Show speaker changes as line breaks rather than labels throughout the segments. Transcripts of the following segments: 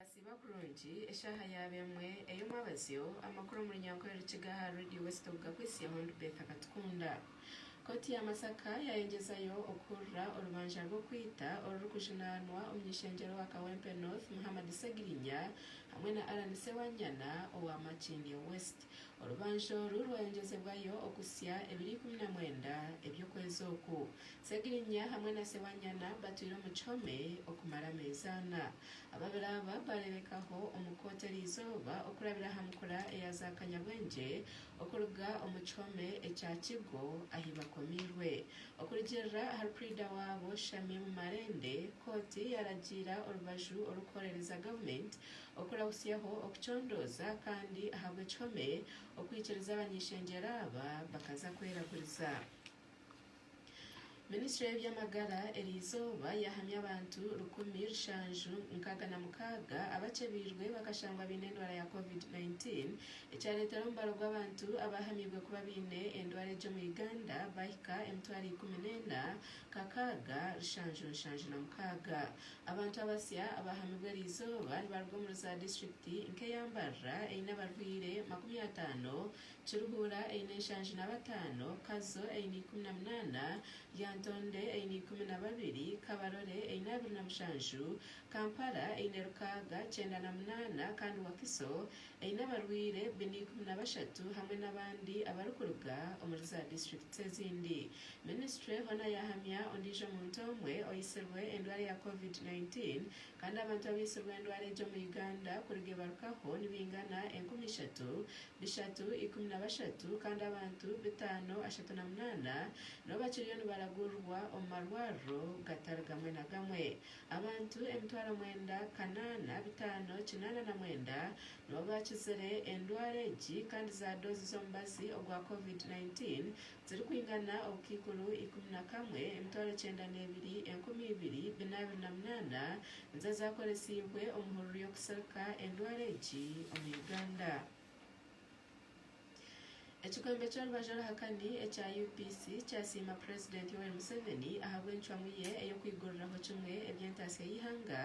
Asiiba kurungi eshaaha yaaba emwe ey'omwabazyo amakuru omu runyankore Rukiga aha Radio West Obuga Kwesi Hon Betha Katukunda. Kooti ya Masaka yayengyezayo okuhurira orubanja rw'okwita orurikujunaanwa omuny'ishengyero wa Kawempe North Muhammad Ssegirinya hamwe na Allan Ssewanyana owa Makindye West. Orubanja oru rwayongyezebwayo okuhitsya ebiro ikumi na mwenda eby'okwezi oku. Segirinya hamwe na Sewanyana batwire omu kihome okumara ameezi ana. Ababiri aba baareebekaho omu kooti eri izooba okurabira aha nkura eya za kanyabwengye okuruga omu kihome ekya Kigo ahi bakomiirwe. Okurugiirira ahari purida waabo Shamim Malende, kooti yaaragiira orubaju orurikuhorereza gavumenti Okurahutsyaho okucondooza kandi ahabw'ekihome okwikiriza abany'ishengyero aba bakaza kwerakuriza. Minisitule y'eby'amagara eriizooba yahamya abantu rukumi rushanju nkaaga na mukaaga abakyebeirwe bakashangwa baine endwara ya covid 19 ekyareetera omubaro gw'abantu abaahamyirwe kuba baine endwara egi omu Uganda baahika emitwaro ikumi n'ena Kakaaga, Lushanju Nshanju na Mukaaga. Abantu abasya abaahamibwa eri izooba nibaruga omuri za disiturikiti nk'eya Mbarara eine abarwaire makumi ataano, Kiruhura eine nshanju na bataano, Kazo eine ikumi na munaana, Lyantonde eine ikumi na babiri, Kabarole eine abiri na mushanju, Kampala eine Rukaaga kyenda na munaana kandi Wakiso eine abarwaire bina ikumi na bashatu hamwe n'abandi abarikuruga omuri za disiturikiti ezindi. Minisitule hoona yaahamya ondiijo muntu omwe oitsirwe endwara ya Covid 19 kandi abantu abaitsirwe endwara egyo omu Uganda kuriga ebarukaho nibaingana enkumi ishatu, bishatu, ikumi na bashatu kandi abantu bitaano, ashatu na munaana, nibo bakiriyo nibaragurirwa omu marwariro gatari gamwe na gamwe. Abantu emitwaro mwenda, kanaana, bitaano, kinaana na mwenda nibo baakizire endwara egi kandi zaadoozi z'omubazi ogwa Covid 19 zirikwingana obukaikuru ikumi na kamwe, emitwaro kyenda n'ebiri, enkumi ibiri, bina abiri na munaana nizo zaakoresiibwe omu hururu y'okusirika endwara egi omu Uganda. Ekikwembe ky'orubaju oruhakani ekya UPC kyasiima Purezidenti Yoweri Museveni ahabw'encwamu ye ey'okwiguriraho kimwe eby'entaasya y'eihanga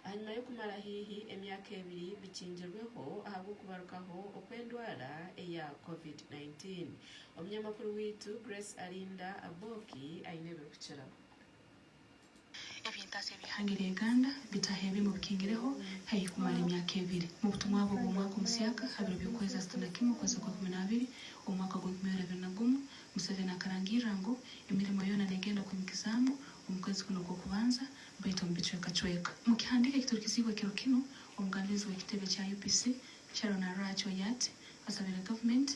ahanyima y'okumara haihi emyaka ebiri bikingirweho ahabw'okubarukaho okw'endwara eya Covid nineteen Omunyamakuru waitu Grace Arinda Aboki aine ebirikukiraho.
Eby'entaatsya ebyahangire Uganda bitaho ebi mu bikingireho haihi kumara emyaka ebiri. Mu butumwa bwe bw'omwaka omusyaka ha biro by'okwezi asatu na kimwe okwezi okwa ikumi n'abiri omwaka gw'enkumi ibiri abiri na gumu, Museveni akarangirira ngu emirimo yoona negenda kwimukizaamu omu kwezi kunu okw'okubanza baitu omu bicwekacweka. Mu kihandiiko ekiturikiziibwe ekiro kinu, omugambizi w'ekitebe kya UPC Sharon Arach Oyat asabire gavumenti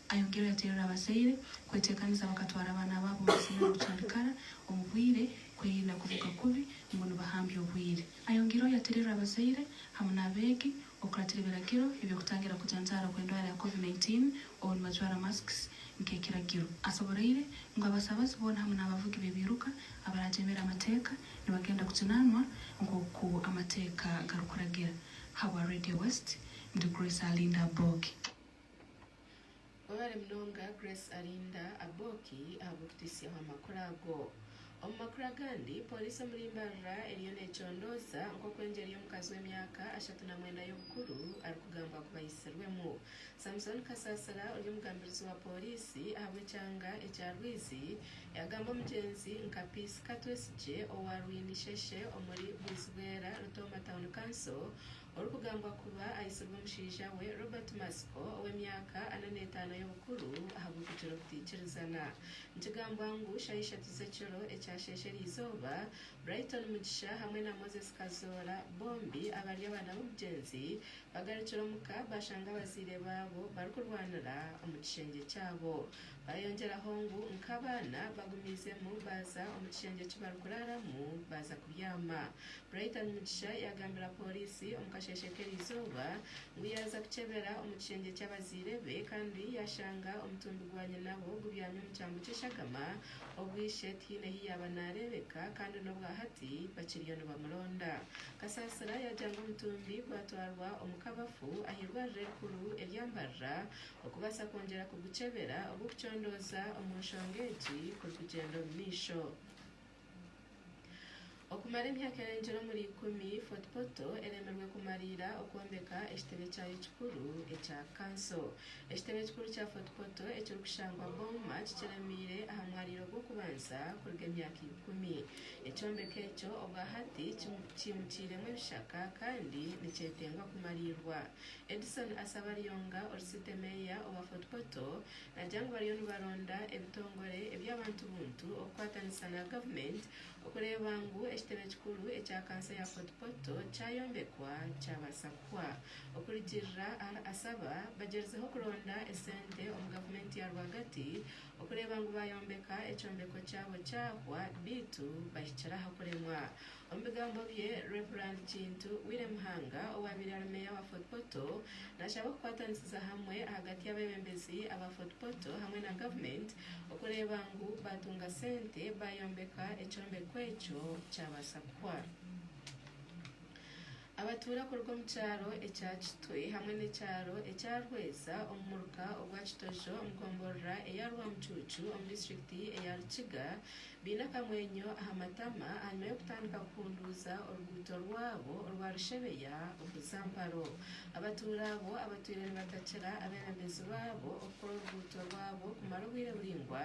Ayongyere yaterera abazaire kwetekaniza bakatwara abaana baabo mazima nobucarikara omu bwire kwerinda kuvuga kubi ngu nibahambya obwire. Ayongyeireho yaterera abazaire hamu n'abeegi okuratira ebiragiro ebyokutangira kujanjaara okwendwara ya covid nineteen obu nibajwara masks nkekiragiro. Asoboreire ngu abasabazi boona hamu n'abavugi bebiiruka abaragyemera amateeka nibagenda kuginanwa nkoku amateeka garikuragira. Habwa Radio West ndi Grace Alinda Bogi.
Orwari munonga Grace Arinda Aboki ahabw'okutitsyaho amakuru ago. Omu makuru agandi, Pooriisi omuri Mbarara eriyo necondooza nk'oku engyeri y'omukazi w'emyaka ashatu na mwenda y'obukuru arikugambwa kuba aitsirwemu. Samson Kasasira ori omugambirizi wa Pooriisi ahabw'ekyanga ekya Rwizi yagamba omugyenzi nka Peace Katwesigye owa Rwinisheshe omuri Bwizibwera Rutooma Town Council orikugambwa kuba aitsirwe omushaija we Robert Matsiko ow'emyaka ana n'etaano y'obukuru ahabw'okugira obutaikirizana. Nikigambwa ngu shaaha ishatu z'ekiro ekyasheesha erizooba, Brighton Mugisha hamwe na Moses Kazoora bombi abari abaana b'omugyenzi bagarukire omuka bashanga abazaire baabo barikurwanira omu kishengye kyabo. Ayongyeraho ngu nk'abaana bagumiizemu baaza omu kishengye eki barikuraaramu baaza kubyama. Brighton Mugisha yaagambira pooriisi omu kasheeshe k'erizooba ngu yaaza kukyebera omu kishengye ky'abazaire be kandi yaashanga omutumbi gwa nyinabo gubyami omu kyambu ky'eshagama obu ishe tihaine ahu yaaba naareebeka kandi n'obwahati bakiriyo nibamuronda. Kasaasira yaagira ngu omutumbi gwatwarwa omu kabafu aha irwariro erikuru erya Mbarara Okubaasa kwongyera kugukyebera obu okucondooza omu nshonga egi kurikugyenda omu maisho. Okumara emyaka erengire omuri ikumi, Fort Portal eremirwe kumariira okwombeka ekitebe kyayo kikuru ekya kanso. Ekitebe ekikuru kya Fort Portal ekirikushangwa Bouma kikiremiire aha mwariiro gw'okubanza kuruga emyaka ikumi. Ekyombeko ekyo obwahati kyimukiiremu ebishaka kandi nikyetengwa kumariirwa. Edison Asabaryonga ori City Mayor owa Fort Portal nagya ngu bariyo nibaronda ebitongore eby'abantu buntu okukwatanisa na government okureeba ngu ekitebe kikuru ekya kanso ya Fort Portal kyayombekwa kyabaasa kuhwa. Okurigirira ahari Asaba, bagyerizeho kuronda esente omu gavumenti ya rwagati okureeba ngu bayombeka ekyombeko kyabo kyahwa beitu bahikire aha kuremwa. Omu bigambo bye, Rev. Kintu Willy Muhanga owaabaire ari meeya wa Fort Portal naashaba okukwatanisiza hamwe ahagati y'abeebembezi aba Fort Portal hamwe na gavumenti okureeba ngu baatunga sente baayombeka ekyombeko ekyo kyabaasa kuhwa. Abatuura kuruga omu kyaro ekya Kitwe hamwe n'ekyaro ekya Rweza omu muruka ogwa Kitojo omu gomborora eya Rwamucuucu omu disiturikiti eya Rukiga baine akamwenyo aha matama ahanyima y'okutandika kuhunduuza oruguuto rwabo orwa Rushebeya okuza Mparo. Abatuura abo abatwire nibatakira abeebembezi baabo okukora oruguuto rwabo kumara obwire buraingwa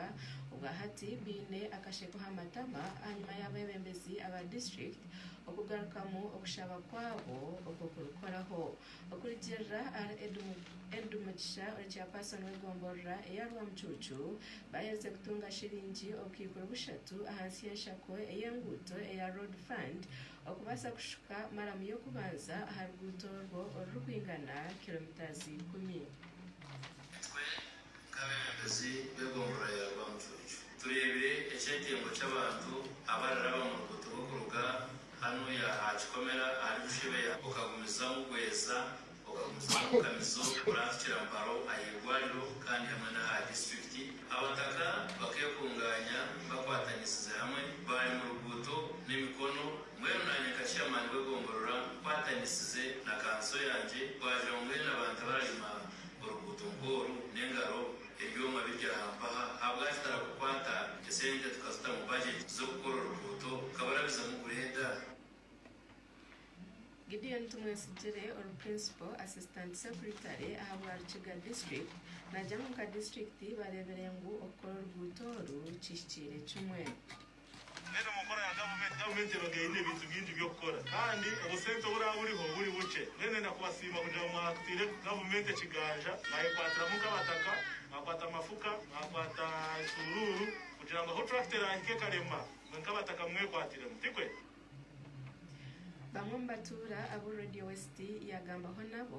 obwahati baine akasheko aha matama ahanyima y'abeebembezi aba disiturikiti Okugarukamu okushaba kwabo okwo kurikukoraho okurugirira ahari Ed Mugisha ori Chairperson w'egomborora eya Rwamucuucu baaherize kutunga shiringi obukaikuru bushatu ahansi y'enshako ey'enguuto eya Road Fund okubaasa kushuka maramu y'okubanza aha ruguuto orwo orurikwingana kilometres ikumi.
Nk'abebembezi b'egomborora ya Rwamucuucu, tureebire eky'entembo ky'abantu abariraba omu ruguuto rw'okuruga hanu y'aha kikomera ahari Bushebeya okagumizamu Bweza, okagumizamu Bukamizo kuranzukira Mparo ah'eirwariro kandi hamwe n'aha disiturikiti, abataka bakekungaanya bakwatanisize hamwe baarema oruguuto n'emikono mbwenu naanye nka Chairman w'egomborora nkwatanisize na kanso yangye, bwagira ngu mbwenu abantu abararima Oruguuto nk'oru n'engaro ebyoma biri aha mpaha, ahabwaki tarakukwata esente tukazita mu budget z'okukora oruguuto kabarabizamu
gureda? Gideon Tumwesigire ori Principal Assistant Secretary aha bwa Rukiga District nagyamu nka District bareebire ngu okukora oruguuto oru kihikiire kimwe. Mbwenu
omu nkora ya gavumenti, gavumenti ebaga eine ebintu bingi by'okukora kandi obusente oburaba buriho buri bukye. Mbwenu ndenda kubasiima kugira ngu mwakutaire gavumenti ekiganja, mwayekwatiramu nk'abataka, mwakwata amafuka, mwakwata ensuuruuru kugira ngu ahu turakita eraahika ekarema, mwe nk'abataka mumwekwatiremu. Tikwe? Bamwe
omu batuura abu Radio West yaagambaho nabo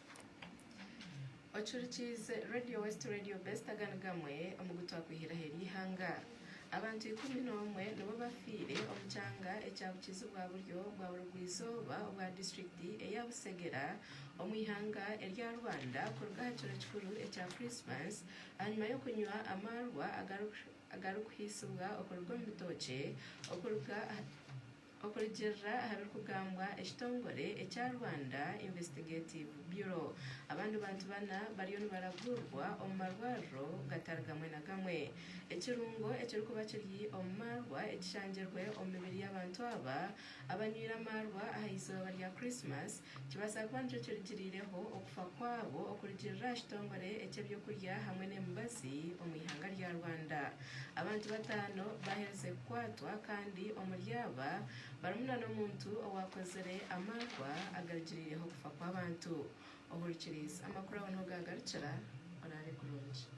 Ocurikiize Radio West Radio Best agani gamwe omu gu twakwihiraho eri ihanga. Abantu ikumi n'omwe nibo bafiire omu kyanga ekya bukizi bwa buryo bwa burugwa-izooba obwa disiturikiti eya Busegera omu ihanga erya Rwanda kuruga aha kiro kikuru ekya Christmas ahanyima y'okunywa amaarwa agari kuhiisibwa okuruga omu bitookye okuruga aha Okurugiirira aha birikugambwa ekitongore ekya Rwanda Investigative Bureau, abandi bantu bana bariyo nibaraguurirwa omu marwariro gatari gamwe na gamwe. Ekirungo ekirikuba kiri omu maarwa ekishangirwe omu mibiri y'abantu aba abanywire amaarwa aha izooba rya Christmas Nikibaasa kuba nikyo kirugirireho okufa kwabo okurugirira aha kitongore eky'eby'okurya hamwe n'emibazi omu ihanga rya Rwanda. Abantu bataano baaherize kukwatwa kandi omuri aba barimu na n'omuntu owaakozire amaarwa agarugirireho okufa kw'abantu. Ohurukiriize, amakuru aho niho gaagarukira. Oraare kurungi.